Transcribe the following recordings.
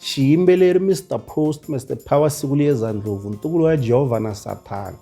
xiyimbeleri Mister Post Mister Power siku liyeza ndlopfu ntukulu wa Jehovha na Sathana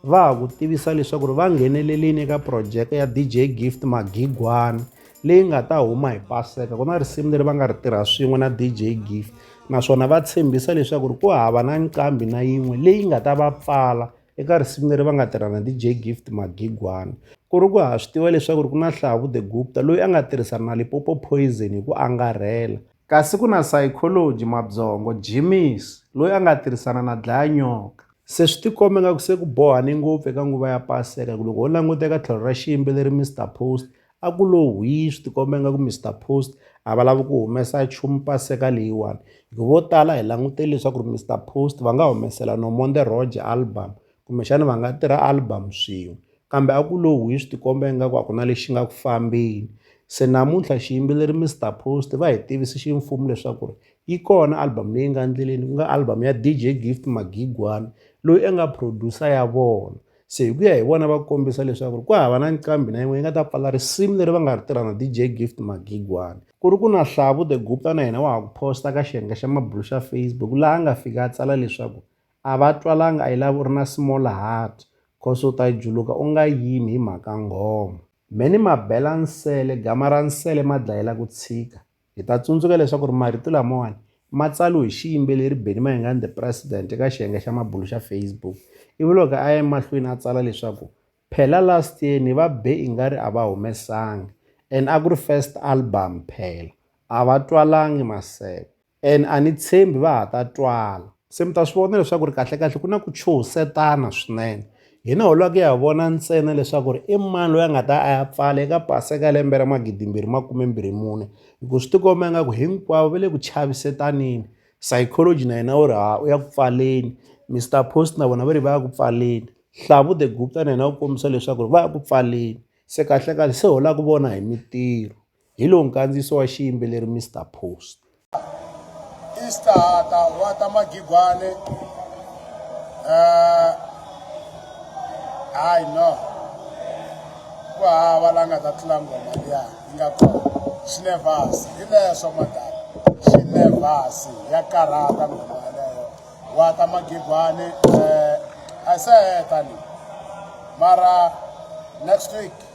va ha ku tivisa leswaku ri va nghenelelini eka phurojeke ya DJ Gift Magigwana leyi nga ta huma hi Paseka ku na risimu leri va nga ri tirha swin'we na DJ Gift naswona va tshembisa leswaku ri ku hava na nqambi na yin'we leyi nga ta va pfala eka risimu leri va nga tirha na DJ Gift Magigwana ku ri ku ha swi tiva leswaku ri ku na Hlavu the Gupta loyi a nga tirhisana na Lipopo Poison hi ku angarhela Kasi ku na sayikholoji, mabyongo, Jimmy's, loyi a nga tirhisana na dlaya-nyoka. Se swi tikombe ingaku se ku bohane ngopfu eka nguva ya Paseka ku loko ho languta eka tlhelo ra xiyimbeleri Mister Post a ku lo hwii swi tikomba ingaku Mister Post a va lavi ku humesa nchumu Paseka leyiwani. Hi ku vo tala hi langutele leswaku ri Mister Post va nga humesela Nomonde Roger album kumbexana va nga tirha album swin'we kambe a ku lo wi swi tikomba ingaku a ku na lexi nga ku fambeni se namuntlha xiyimbeleri Mister Post va hi tivise ximfumo leswaku ri yi kona album leyi nga endleleni ku nga album ya DJ Gift Magigwana loyi a nga producer ya vona se hi ku ya hi vona va kombisa leswaku ri ku hava na nqambi na yin'we yi nga ta pfala risimu leri va nga ri tirha na DJ Gift Magigwana ku ri ku na Hlavu the Gupta na yena wa ha ku posta ka xiyenge xa mabulo xa Facebook laha a nga fika a tsala leswaku A va twalanga I love u ri na small heart cos u ta juluka u nga yimi hi mhaka nghoma. Me ni ma bela nsele gama ra nsele ma dlayela ku tshika. Hi ta tsundzuka leswaku ri marito lamawani ma tsariwe hi xiyimbeleri Benny Mayengani The President eka xiyenge xa mabulu xa Facebook ivi loko a ya emahlweni a tsala leswaku phela last year ni va be ingari a va humesanga and a ku ri first album phela a va twalangi maseve And a ni tshembi va ha ta twala. Se mi ta swi vona leswaku ri kahlekahle ku na ku chuhisetana swinene. Hina ho lava ku ya vona ntsena leswaku ri i mani loyi a nga ta a ya pfala eka Paseka ya lembe ra magidimbirhi makume-mbirhi mune, hikuva swi ti komba ingaku hinkwavo va le ku chavisetaneni. Psychology na yena wu ri ha u ya ku pfaleni, Mister Post na vona va ri va ya ku pfaleni, Hlavu the Gupta na yena u kombisa leswaku ri va ya ku pfaleni. Se kahlekahle se ho lava ku vona hi mintirho. Hi lowu nkandziyiso wa xiyimbeleri Mister Post. Istahata wa ta magigwane eh, hayi no ku hava la nga ta tlula ngoma liya yi nga kona xinevhasi hi leswo madala xinevhasi ya karhata ngoma yaleyo wa ta magigwane um eh, a se heta ni mara next week